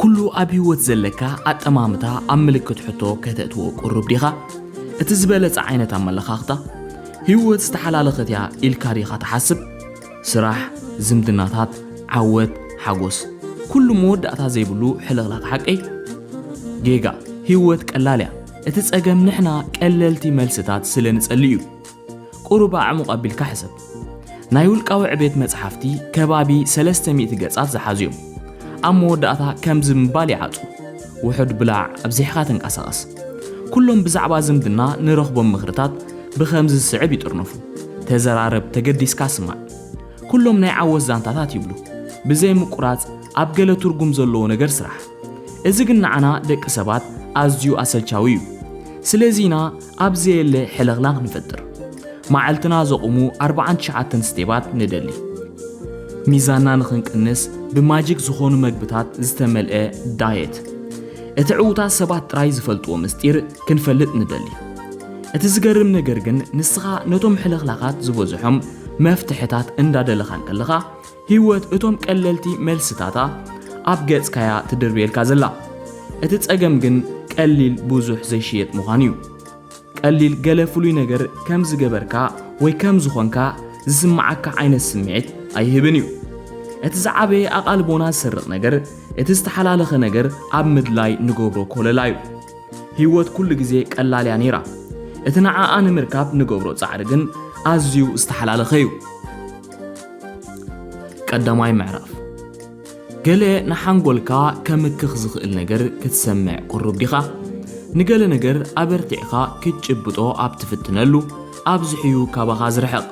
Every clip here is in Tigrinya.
ኩሉ ኣብ ህይወት ዘለካ ኣጠማምታ ኣብ ምልክት ሕቶ ከተእትዎ ቅሩብ ዲኻ? እቲ ዝበለጸ ዓይነት ኣመለኻኽታ፣ ህይወት ዝተሓላለኸት እያ ኢልካ ዲኻ ትሓስብ? ስራሕ፣ ዝምድናታት፣ ዓወት፣ ሓጎስ፣ ኩሉ መወዳእታ ዘይብሉ ሕልኽላኽ ሓቂ? ጌጋ፣ ህይወት ቀላል እያ። እቲ ጸገም ንሕና ቀለልቲ መልስታት ስለ ንጸልእ እዩ። ቅሩብ ኣዕሙቕ ኣቢልካ ሕሰብ። ናይ ውልቃዊ ዕቤት መጽሓፍቲ ከባቢ ሰለስተ ሚእቲ ገጻት ዝሓዙ እዮም። ኣብ መወዳእታ ከምዚ ምባል ይዓጹ፣ ውሑድ ብላዕ፣ ኣብዚሕካ ተንቀሳቐስ። ኩሎም ብዛዕባ ዝምድና ንረኽቦም ምኽርታት ብኸምዚ ዝስዕብ ይጥርነፉ፣ ተዘራረብ፣ ተገዲስካ ስማዕ። ኩሎም ናይ ዓወት ዛንታታት ይብሉ፣ ብዘይ ምቁራጽ ኣብ ገለ ትርጉም ዘለዎ ነገር ስራሕ። እዚ ግን ንዓና ደቂ ሰባት ኣዝዩ ኣሰልቻዊ እዩ። ስለዚ ኢና ኣብ ዘየለ ሕልኽላኽ ንፈጥር መዓልትና ዘቑሙ ኣርብዓን ትሽዓተን ስቴባት ንደሊ። ሚዛንና ንኽንቅንስ ብማጂክ ዝኾኑ መግብታት ዝተመልአ ዳየት። እቲ ዕዉታት ሰባት ጥራይ ዝፈልጥዎ ምስጢር ክንፈልጥ ንደሊ። እቲ ዝገርም ነገር ግን ንስኻ ነቶም ሕልኽላኻት ዝበዝሖም መፍትሕታት እንዳደለኻ እንከለኻ ሂወት እቶም ቀለልቲ መልስታታ ኣብ ገጽካያ ትድርብየልካ ዘላ እቲ ጸገም ግን ቀሊል ብዙሕ ዘይሽየጥ ምዃኑ እዩ ቀሊል ገለ ፍሉይ ነገር ከም ዝገበርካ ወይ ከም ዝኾንካ ዝስምዓካ ዓይነት ስምዒት ኣይህብን እዩ እቲ ዝዓበየ ኣቓልቦና ዝሰርቕ ነገር እቲ ዝተሓላለኸ ነገር ኣብ ምድላይ ንገብሮ ኮለላ እዩ ሂወት ኩሉ ግዜ ቀላል እያ ነይራ እቲ ንዓኣ ንምርካብ ንገብሮ ጻዕሪ ግን ኣዝዩ ዝተሓላለኸ እዩ ቀዳማይ ምዕራፍ ገለ ንሓንጎልካ ከምክኽ ዝኽእል ነገር ክትሰምዕ ቅሩብ ዲኻ? ንገለ ነገር ኣበርቲዕኻ ክትጭብጦ ኣብ ትፍትነሉ ኣብዝሕዩ ካባኻ ዝርሕቕ።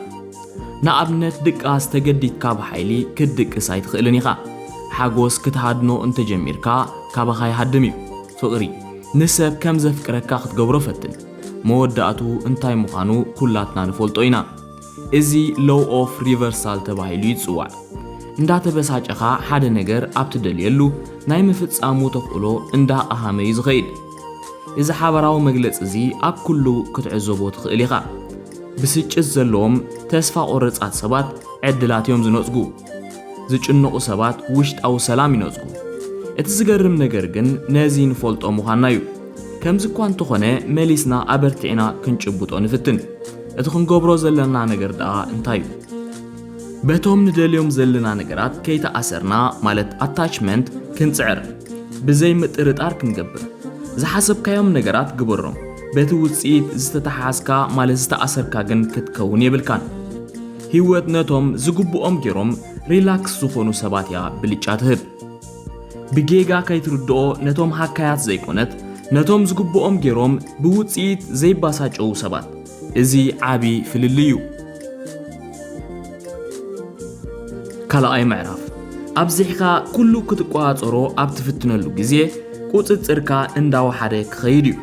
ንኣብነት ድቃስ ተገዲድካ ብሓይሊ ክትድቅስ ኣይትኽእልን ኢኻ። ሓጎስ ክትሃድኖ እንተጀሚርካ ካባኻ ይሃድም እዩ። ፍቕሪ ንሰብ ከም ዘፍቅረካ ክትገብሮ ፈትን። መወዳእትኡ እንታይ ምዃኑ ኩላትና ንፈልጦ ኢና። እዚ ሎው ኦፍ ሪቨርሳል ተባሂሉ ይጽዋዕ። እንዳተበሳጨኻ ሓደ ነገር ኣብ ትደልየሉ፣ ናይ ምፍጻሙ ተኽእሎ እንዳቐሃመ'ዩ ዝኸይድ። እዚ ሓበራዊ መግለጺ'ዚ ኣብ ኩሉ ክትዕዘቦ ትኽእል ኢኻ። ብስጭት ዘለዎም ተስፋ ቆረጻት ሰባት ዕድላት'ዮም ዝነጽጉ። ዝጭነቑ ሰባት ውሽጣዊ ሰላም ይነጽጉ። እቲ ዝገርም ነገር ግን ነዚ ንፈልጦ ምዃንና'ዩ። ከምዚ'ኳ እንተኾነ መሊስና ኣበርቲዕና ክንጭብጦ ንፍትን። እቲ ክንገብሮ ዘለና ነገር ደኣ እንታይ እዩ? በቶም ንደልዮም ዘለና ነገራት ከይተኣሰርና ማለት ኣታችመንት ክንጽዕር ብዘይ ምጥርጣር ክንገብር። ዝሓሰብካዮም ነገራት ግበሮም፣ በቲ ውጽኢት ዝተተሓሓዝካ ማለት ዝተኣሰርካ ግን ክትከውን የብልካን። ህይወት ነቶም ዝግብኦም ጌሮም ሪላክስ ዝኾኑ ሰባት እያ ብልጫ ትህብ። ብጌጋ ከይትርድኦ ነቶም ሃካያት ዘይኮነት ነቶም ዝግብኦም ጌሮም ብውጽኢት ዘይባሳጨዉ ሰባት እዚ ዓቢ ፍልልይ እዩ። ካልኣይ ምዕራፍ ኣብዚሕካ ኩሉ ክትቆጻጸሮ ኣብ ትፍትነሉ ግዜ ቁጽጽርካ እንዳወሓደ ክኸይድ እዩ።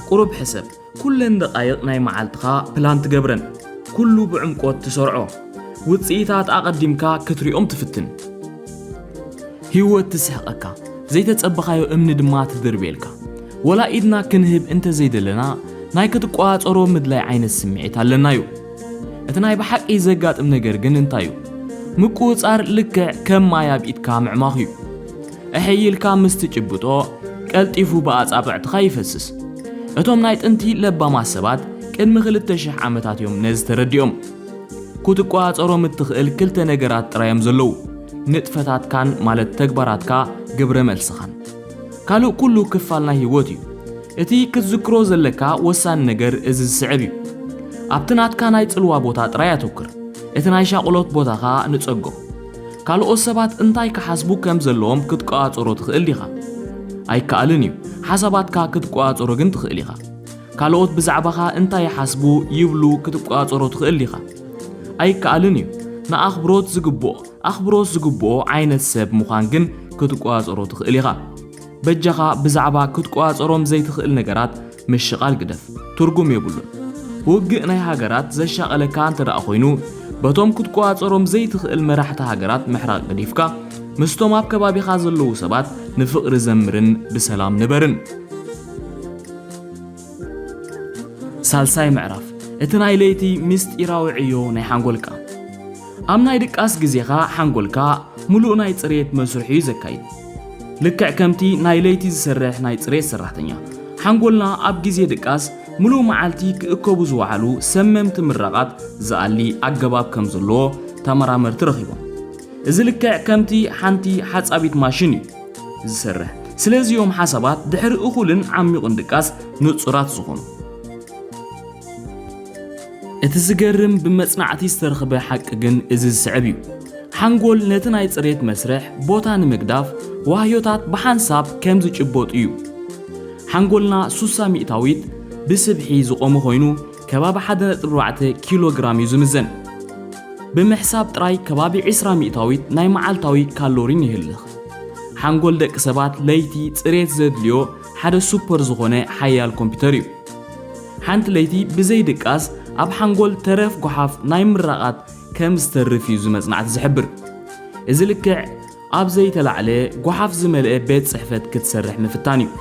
ቁሩብ ሕሰብ። ኩለን ደቓይቕ ናይ መዓልትኻ ፕላን ትገብረን። ኩሉ ብዕምቆት ትሰርዖ። ውጽኢታት ኣቐዲምካ ክትሪኦም ትፍትን። ህይወት ትስሕቐካ። ዘይተጸበኻዮ እምኒ ድማ ትድርብየልካ። ወላ ኢድና ክንህብ እንተ ዘይደለና ናይ ክትቆጻጸሮ ምድላይ ዓይነት ስምዒት ኣለና'ዩ። እቲ ናይ ብሓቂ ዘጋጥም ነገር ግን እንታይ'ዩ? ምቁጽጻር ልክዕ ከም ማይ ኣብ ኢድካ ምዕማኽ'ዩ። እሕይ ኢልካ ምስ ትጭብጦ ቀልጢፉ ብኣጻብዕትኻ ይፈስስ። እቶም ናይ ጥንቲ ለባማት ሰባት ቅድሚ ክልተ ሽሕ ዓመታት እዮም ነዚ ተረዲኦም። ክትቆጻጸሮም እትኽእል ክልተ ነገራት ጥራይ እዮም ዘለዉ፣ ንጥፈታትካን ማለት ተግባራትካ ግብረ መልስኻን። ካልእ ኩሉ ክፋል ናይ ህይወት እዩ። እቲ ክትዝክሮ ዘለካ ወሳኒ ነገር እዚ ዝስዕብ እዩ። ኣብቲ ናትካ ናይ ጽልዋ ቦታ ጥራይ ኣተኩር፣ እቲ ናይ ሻቕሎት ቦታኻ ንጸጎ። ካልኦት ሰባት እንታይ ክሓስቡ ከም ዘለዎም ክትቆጻጸሮ ትኽእል ዲኻ? ኣይከኣልን እዩ። ሓሳባትካ ክትቆጻጸሮ ግን ትኽእል ኢኻ። ካልኦት ብዛዕባኻ እንታይ ይሓስቡ፣ ይብሉ፣ ክትቆጻጸሮ ትኽእል ዲኻ? ኣይከኣልን እዩ። ንኣኽብሮት ዝግብኦ፣ ኣኽብሮት ዝግብኦ፣ ዓይነት ሰብ ምዃን ግን ክትቆጻጸሮ ትኽእል ኢኻ። በጃኻ ብዛዕባ ክትቆጻጸሮም ዘይትኽእል ነገራት ምሽቓል ግደፍ፣ ትርጉም የብሉን። ውግእ ናይ ሃገራት ዘሻቐለካ እንተድኣ ኮይኑ፣ በቶም ክትቆጻጸሮም ዘይትኽእል መራሕቲ ሃገራት ምሕራቕ ገዲፍካ፣ ምስቶም ኣብ ከባቢኻ ዘለዉ ሰባት ንፍቕሪ ዘምርን ብሰላም ንበርን። ሳልሳይ ምዕራፍ እቲ ናይ ለይቲ ምስጢራዊ ዕዮ ናይ ሓንጎልካ ኣብ ናይ ድቃስ ግዜኻ ሓንጎልካ ምሉእ ናይ ጽሬት መስርሕ እዩ ዘካይድ ልክዕ ከምቲ ናይ ለይቲ ዝሰርሕ ናይ ጽሬት ሰራሕተኛ ሓንጎልና ኣብ ግዜ ድቃስ ምሉእ መዓልቲ ክእከቡ ዝወዓሉ ሰመምቲ ምራቓት ዝኣሊ ኣገባብ ከም ዘለዎ ተመራመርቲ ረኺቦም እዚ ልክዕ ከምቲ ሓንቲ ሓጻቢት ማሽን እዩ ዝሰርሕ። ስለዚ እዮም ሓሳባት ድሕሪ እኹልን ዓሚቝን ድቃስ ንጹራት ዝኾኑ። እቲ ዝገርም ብመጽናዕቲ ዝተረኽበ ሓቂ ግን እዚ ዝስዕብ እዩ፣ ሓንጎል ነቲ ናይ ጽሬት መስርሕ ቦታ ንምግዳፍ ዋህዮታት ብሓንሳብ ከም ዝጭበጡ እዩ። ሓንጎልና ሱሳ ሚእታዊት ብስብሒ ዝቖመ ኮይኑ፣ ከባቢ ሓደ ነጥቢ ኣርባዕተ ኪሎ ግራም እዩ ዝምዘን። ብምሕሳብ ጥራይ ከባቢ ዕስራ ሚእታዊት ናይ መዓልታዊ ካሎሪን ይህልኽ። ሓንጎል ደቂ ሰባት ለይቲ ጽሬት ዘድልዮ ሓደ ሱፐር ዝኾነ ሓያል ኮምፒተር እዩ። ሓንቲ ለይቲ ብዘይ ድቃስ ኣብ ሓንጎል ተረፍ ጎሓፍ ናይ ምራቓት ከም ዝተርፍ እዩ እዚ መጽናዕቲ ዝሕብር። እዚ ልክዕ ኣብ ዘይተላዕለ ጓሓፍ ዝመልአ ቤት ጽሕፈት ክትሰርሕ ምፍታን እዩ።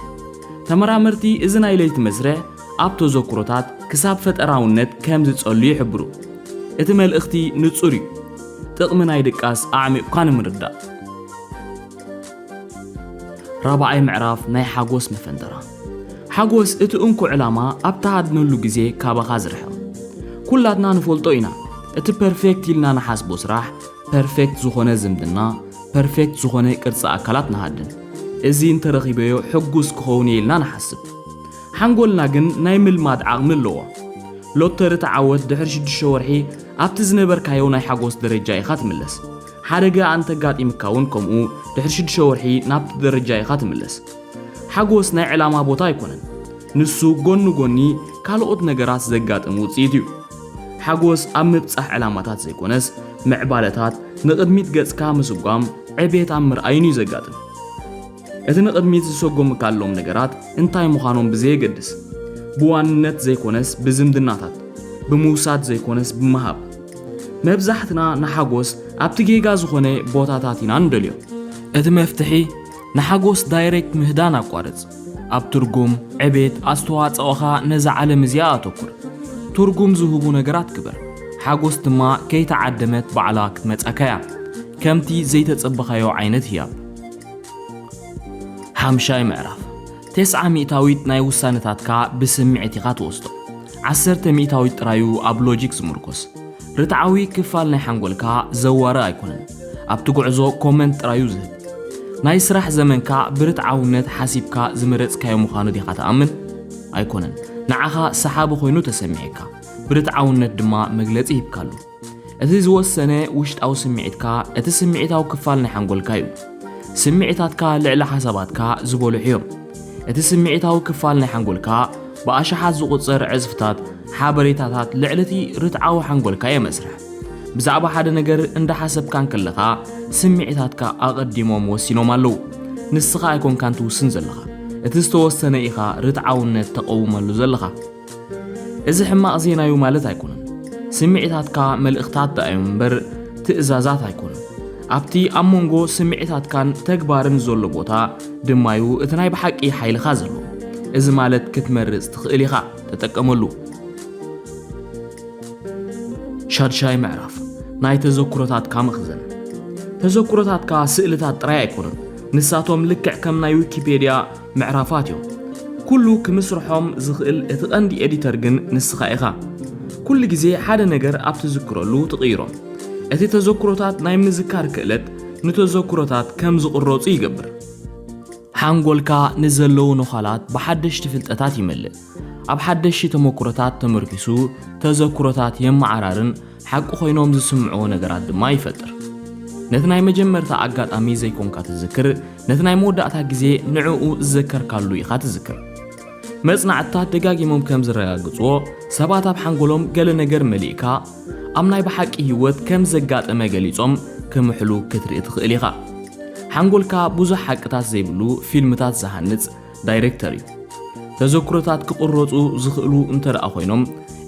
ተመራመርቲ እዚ ናይ ለይቲ መስርሕ ኣብ ተዘክሮታት ክሳብ ፈጠራውነት ከም ዝጸሉ ይሕብሩ። እቲ መልእኽቲ ንጹር እዩ፣ ጥቕሚ ናይ ድቃስ ኣዕሚቝካ ንምርዳእ። ራብዓይ ምዕራፍ ናይ ሓጎስ መፈንጠራ። ሓጎስ እቲ እንኮ ዕላማ ኣብ ትሃድነሉ ግዜ ካባኻ ዝርሕቕ። ኩላትና ንፈልጦ ኢና፣ እቲ ፐርፌክት ኢልና ንሓስቦ ስራሕ፣ ፐርፌክት ዝኾነ ዝምድና፣ ፐርፌክት ዝኾነ ቅርጺ ኣካላት ንሃድን። እዚ እንተረኺበዮ ሕጉስ ክኸውን እየ ኢልና ንሓስብ። ሓንጎልና ግን ናይ ምልማድ ዓቕሚ ኣለዎ። ሎተሪ ተዓወት ድሕሪ ሽዱሽተ ወርሒ ኣብቲ ዝነበርካዮ ናይ ሓጎስ ደረጃ ኢኻ ትምለስ። ሓደጋ ኣንተጋጢምካ እውን ከምኡ ድሕሪ ሽዱሽተ ወርሒ ናብቲ ደረጃ ኢኻ ትምለስ። ሓጎስ ናይ ዕላማ ቦታ ኣይኮነን። ንሱ ጎኒ ጎኒ ካልኦት ነገራት ዘጋጥም ውጽኢት እዩ። ሓጎስ ኣብ ምብጻሕ ዕላማታት ዘይኮነስ፣ ምዕባለታት፣ ንቕድሚት ገጽካ ምስጓም፣ ዕቤት ኣብ ምርኣይን እዩ ዘጋጥም። እቲ ንቕድሚት ዝሰጎምካሎም ነገራት እንታይ ምዃኖም ብዘየገድስ፣ ብዋንነት ዘይኮነስ ብዝምድናታት፣ ብምውሳድ ዘይኮነስ ብምሃብ። መብዛሕትና ንሓጎስ ኣብቲ ጌጋ ዝኾነ ቦታታት ኢና ንደልዮ። እቲ መፍትሒ ንሓጎስ ዳይሬክት ምህዳን ኣቋርጽ። ኣብ ትርጉም፣ ዕቤት፣ ኣስተዋጸኦኻ ነዛ ዓለም እዚኣ ኣተኩር። ትርጉም ዝህቡ ነገራት ግበር። ሓጎስ ድማ ከይተዓደመት ባዕላ ክትመጻካ እያ። ከምቲ ዘይተጸበኻዮ ዓይነት ህያብ። ሓምሻይ ምዕራፍ ቴስዓ ሚእታዊት ናይ ውሳነታትካ ብስምዒት ኢኻ ትወስዶ። ዓሰርተ ሚእታዊት ጥራዩ ኣብ ሎጂክ ዝምርኮስ። ርትዓዊ ክፋል ናይ ሓንጎልካ ዘዋሪ ኣይኮነን። ኣብቲ ጉዕዞ ኮመንት ጥራዩ ዝህብ። ናይ ስራሕ ዘመንካ ብርትዓውነት ሓሲብካ ዝመረጽካዮ ምዃኑ ዲኻ ትኣምን? ኣይኮነን። ንዓኻ ሰሓቢ ኮይኑ ተሰሚዒካ፣ ብርትዓውነት ድማ መግለጺ ሂብካሉ። እቲ ዝወሰነ ውሽጣዊ ስምዒትካ እቲ ስምዒታዊ ክፋል ናይ ሓንጎልካዩ። ስምዒታትካ ልዕሊ ሓሳባትካ ዝበልሑዮም። እቲ ስምዒታዊ ክፋል ናይ ሓንጎልካ ብኣሽሓት ዝቝጸር ዕዝፍታት ሓበሬታታት ልዕሊ እቲ ርትዓዊ ሓንጎልካ የመስርሕ። ብዛዕባ ሓደ ነገር እንዳሓሰብካ እንከለኻ ስምዒታትካ ኣቐዲሞም ወሲኖም ኣለዉ። ንስኻ ኣይኮንካን ትውስን ዘለኻ፣ እቲ ዝተወሰነ ኢኻ ርትዓውነት ተቐውመሉ ዘለኻ። እዚ ሕማቕ ዜናዩ ማለት ኣይኮነን። ስምዒታትካ መልእኽታት ደኣዮም እምበር ትእዛዛት ኣይኮኑን። ኣብቲ ኣብ መንጎ ስምዒታትካን ተግባርን ዘሎ ቦታ ድማዩ እቲ ናይ ብሓቂ ሓይልኻ ዘሎ። እዚ ማለት ክትመርጽ ትኽእል ኢኻ፣ ተጠቀመሉ። ሻድሻይ ምዕራፍ ናይ ተዘክሮታትካ መኽዘን። ተዘክሮታትካ ስእልታት ጥራይ ኣይኮኑን፣ ንሳቶም ልክዕ ከም ናይ ዊኪፔድያ ምዕራፋት እዮም ኩሉ ክምስርሖም ዝኽእል እቲ ቀንዲ ኤዲተር ግን ንስኻ ኢኻ ኩሉ ግዜ ሓደ ነገር ኣብ ትዝክረሉ ትቕይሮ እቲ ተዘክሮታት ናይ ምዝካር ክእለት ንተዘክሮታት ከም ዝቕረጹ ይገብር ሓንጎልካ ንዘለዉ ነዃላት ብሓደሽቲ ፍልጠታት ይመልእ ኣብ ሓደሽቲ ተመክሮታት ተመርኪሱ ተዘክሮታት የመዓራርን ሓቂ ኮይኖም ዝስምዕዎ ነገራት ድማ ይፈጥር። ነቲ ናይ መጀመርታ ኣጋጣሚ ዘይኮንካ ትዝክር፣ ነቲ ናይ መወዳእታ ግዜ ንዕኡ ዝዘከርካሉ ኢኻ ትዝክር። መጽናዕትታት ደጋጊሞም ከም ዝረጋግጽዎ፣ ሰባት ኣብ ሓንጎሎም ገለ ነገር መሊእካ ኣብ ናይ ብሓቂ ህይወት ከም ዘጋጠመ ገሊጾም ክምሕሉ ክትርኢ ትኽእል ኢኻ። ሓንጎልካ ብዙሕ ሓቅታት ዘይብሉ ፊልምታት ዝሃንጽ፣ ዳይሬክተሪ ተዘክሮታት ክቕረፁ ዝኽእሉ እንተደኣ ኮይኖም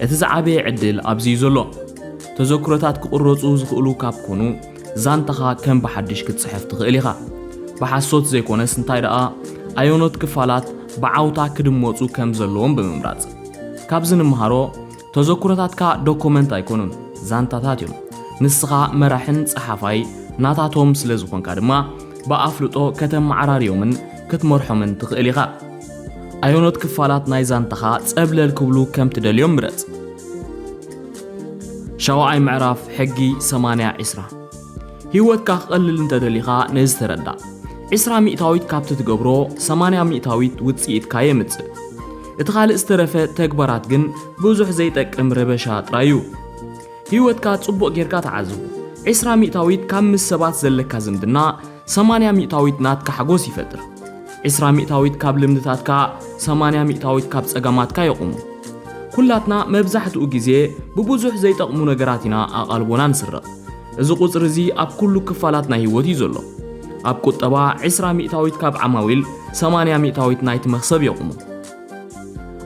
እቲ ዝዓበየ ዕድል ኣብዚ እዩ ዘሎ። ተዘክሮታት ክቕረፁ ዝኽእሉ ካብ ኮኑ ዛንታኻ ከም ብሓድሽ ክትፅሕፍ ትኽእል ኢኻ። ብሓሶት ዘይኮነስ እንታይ ደኣ ኣየኖት ክፋላት ብዓውታ ክድመፁ ከም ዘለዎም ብምምራፅ። ካብዚ ንምሃሮ ተዘኩሮታትካ ዶኮመንት ኣይኮኑን ዛንታታት እዮም ንስኻ መራሕን ጸሓፋይ ናታቶም ስለ ዝኾንካ ድማ ብኣፍልጦ ከተመዓራርዮምን ክትመርሖምን ትኽእል ኢኻ። ኣየኖት ክፋላት ናይ ዛንታኻ ጸብለል ክብሉ ከም ትደልዮም ምረጽ። ሻውዓይ ምዕራፍ ሕጊ ሰማንያ ዒስራ ህይወትካ ክቐልል እንተደሊኻ ነዚ ተረዳእ። ዒስራ ሚእታዊት ካብቲ ትገብሮ ሰማንያ ሚእታዊት ውጽኢትካ የምጽእ። እቲ ካልእ ዝተረፈ ተግባራት ግን ብዙሕ ዘይጠቅም ረበሻ ጥራይ እዩ። ህይወትካ ጽቡቕ ጌርካ ተዓዝቦ። ዕስራ ሚእታዊት ካብ ምስ ሰባት ዘለካ ዝምድና፣ ሰማንያ ሚእታዊት ናትካ ሓጎስ ይፈጥር። ዕስራ ሚእታዊት ካብ ልምድታትካ፣ ሰማንያ ሚእታዊት ካብ ጸገማትካ የቑሙ። ኩላትና መብዛሕትኡ ግዜ ብብዙሕ ዘይጠቕሙ ነገራት ኢና ኣቓልቦና ንስረቕ። እዚ ቁጽሪ እዚ ኣብ ኩሉ ክፋላት ናይ ህይወት እዩ ዘሎ። ኣብ ቁጠባ፣ ዕስራ ሚእታዊት ካብ ዓማዊል፣ ሰማንያ ሚእታዊት ናይቲ መኽሰብ የቑሙ።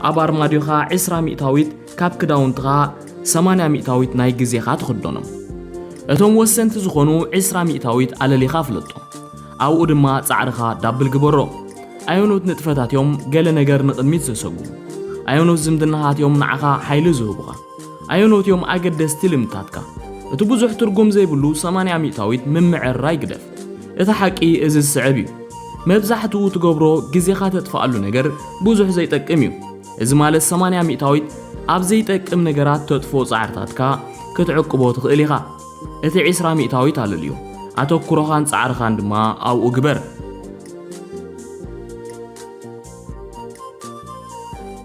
ኣብ ኣርማድዮኻ ዕስራ ሚእታዊት ካብ ክዳውንትኻ፣ ሰማንያ ሚእታዊት ናይ ግዜኻ ትኽደኖም። እቶም ወሰንቲ ዝኾኑ ዕስራ ሚእታዊት ኣለሊኻ ኣፍልጦም። ኣብኡ ድማ ጻዕርኻ ዳብል ግበሮም። ኣየኖት ንጥፈታት እዮም ገለ ነገር ንቕድሚት ዘሰጉሙ? ኣየኖት ዝምድናታት እዮም ንዓኻ ሓይሊ ዝህቡኻ? ኣየኖት እዮም ኣገደስቲ ልምድታትካ? እቲ ብዙሕ ትርጉም ዘይብሉ ሰማንያ ሚእታዊት ምምዕርራይ ግደፍ። እቲ ሓቂ እዚ ዝስዕብ እዩ፣ መብዛሕትኡ ትገብሮ ግዜኻ ተጥፍኣሉ ነገር ብዙሕ ዘይጠቅም እዩ። እዚ ማለት ሰማንያ ሚእታዊት ኣብ ዘይጠቅም ነገራት ተጥፍኦ ጻዕርታትካ ክትዕቅቦ ትኽእል ኢኻ። እቲ ዕስራ ሚእታዊት ኣለልዮ፣ ኣተኩሮኻን ጻዕርኻን ድማ ኣብኡ ግበር።